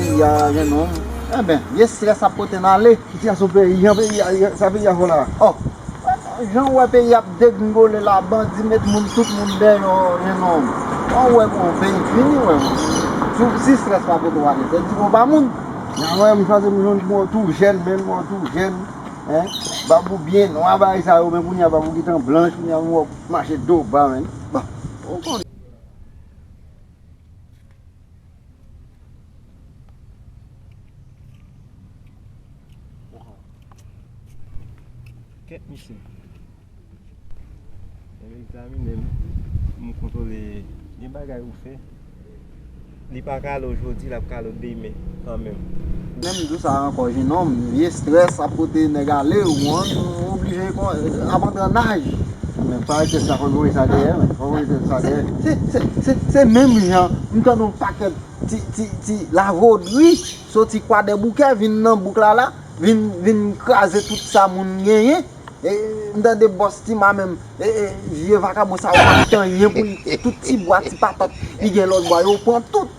Peyi a gen nom enben vye stress ap pote n ale. Sitiyasyon peyi an peyi a sa peyi a fè w la oh. Jan w wè peyi a ap degringole la bandi met moun tout moun dèyò gen nom wè w wè bon peyi fini wè w si stress pa pote w ale se di bon pa moun. Jan w wè m chwazi m jwenn mwen tou jèn menm mwen tou jèn bab ou byen nwa bagay sa yo men kounye a bab ou gentan blanch kounye a m wè w mache do ba menn bon. Waw Kèt misye Mwen vin egzamine l pou m kontwole Gen bagay ou fè Li pa kale ojodi l ap kale w demen kanmenm Menm jou sa ankò jenòm, vye strès ap pote nèg ale, ou konprann, ou oblije ap antre an naj. Men pa rete sa, fòk ou voye sa dèyè men, fòk ou rete sa dèyè. Se menm jan m tande yon pakèt ti lavodri soti kwadèboukè vin nan bouk lala, vin kraze tout sa moun genyen. M tande bòs Tima menm, vye vakabon sa yo pa pran anyen pou li, tout ti bwa, ti patat li gen lòt bwa yo pran tout.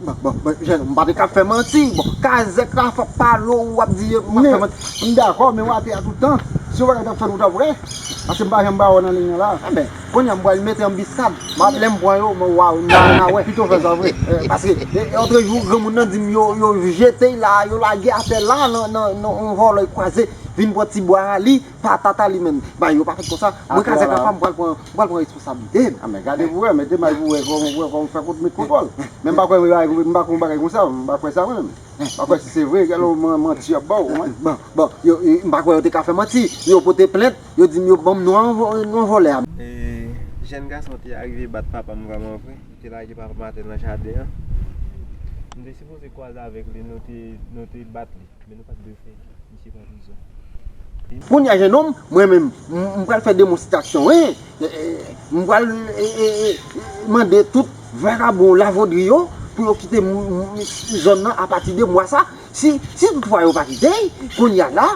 M pa te ka fè manti. Kazèk la fòk pa lo ou ap di. M dakò men wate a tout tan. Si yon bagay tap fèt ou tap wè. Pase m pa janm ba ou nan liy nan la. Enben kounye a m pral mete anbisad. Map lèm pran yo m wa ou nan nan wè. Pito fè sa vre. Pase lotre jou granmoun nan dim yo yo jete la yo lage atè la nan yon vòlò kwazè vin pran ti bwa a li. Patata li menm. Bagay yo pa fèt konsa. Mwen kazèk la pam, m pral pran, m pral pran responsablite m. Anmè gade pou wè, mete may pou wè kòman pou wè kòman pou fè kont met kontwòl. Men m pa kwè bagay, m pa kwè yon bagay konsa, m pa kwè sa mwen menm. M pa kwè si se vre, gade lè manti y ap ba w ou mwen. Bon, bon, yo, m pa kwè yo te ka fè manti. Yo pote plent, yo di m yo ban m non an, non an vòlè a. E, jèn gason te arive bat papa m vrèman vre. Li te lage papa m atè nan jaden an. M te sipoze kwaze avèk li, nou te, nou te bat li. Kounya jenòm mwen menm m pral fè demonsitasyon wi m pral mande tout vagabon lavodri yo pou yo kite zòn nan apati de mwa sa si tout fwa yo pa kite kounya la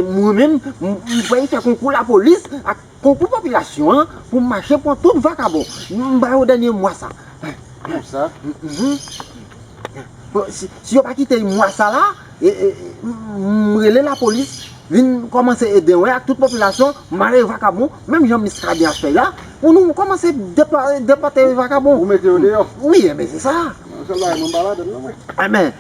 mwen menm m pral fè konkou lapolis ak Konkou popilasyon an pou mache pwan tout vakabon m ba yo dènye mwa sa. Pou sa? Si yo pa kite y mwa sa la, m rele lapolis vin kòmanse ede w ak tout popilasyon mare vakabon menm jan Miskaden ap fè la pou nou kòmanse depòte vakabon. Pou mete yo deyò? Wi, enben se sa. Yon sèl bagay mwen m pa ladann non mwen. Enben.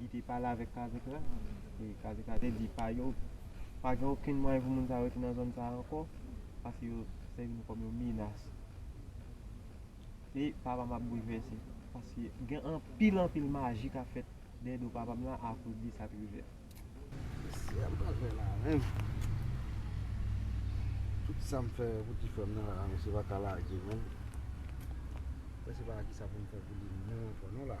Li te pale avèk kazèk la, e kazèk la te di pa yo pa gen okenn mwayen pou moun sa yo rete nan zòn sa a ankò paske yo sèvi nou kòm yon menas. E papa m ap boulvèse paske gen anpil anpil maji k ap fèt dèyè do papa m la akoz de sa k rive a. Mesye a m pral fè la menm. Tout sa m fè pou ti frè m nan la mesye pa ka lage menm. Mwen se pa ki sa pou m fè pou li menm ankò non la.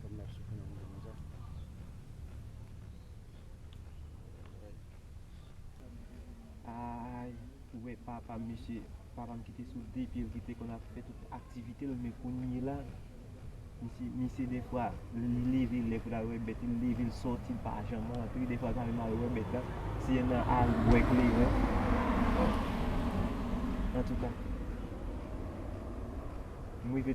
Fèm nan souf nan bouda konsa. Ayy ou wè papam mesye papam ki te sou de pyel ki te konn ap fè tout aktivitel men kounyela misye misye defwa li leve lè poul al wè bèt li leve l sòti l pa janm rantre defwa l pa menm al wè bèt la si se nan al bwè kleren antouka m rive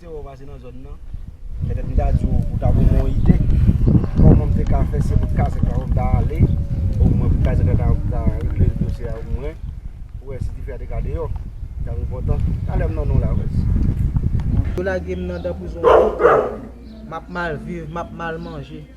Te wè w pase nan zòn nan. Petèt m ta di w ou ta ban m yon ide kòman m te ka fè se pou kazèk la fò m ta ale omwen pou kazèk la ta regle dosye a omwen pou wè si dife a te ka deyò li tap enpòtan Talè m nan non la wè si Yo lage m nan dan prizon tout tan Map mal viv map mal manje.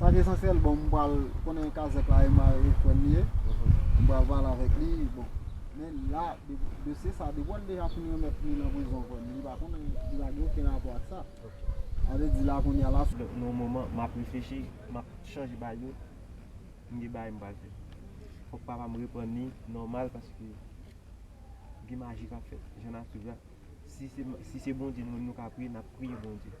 Sak esansyèl bon m pral konnen kazèk la e mare frèm li ye m pral pale avèk li bon men la dosye sa depi wèl deja fin remèt li nan prizon frèm li pa konnen li pa gen oken rapò ak sa sa vle di la kounya la sou yon moman map reflechi map chanje bagay yo m gen bagay m pral fè fòk papa m reprann li nòmal paske gen maji kap fèt jan nap viv la si se bondye nou ka priye nap priye bondye.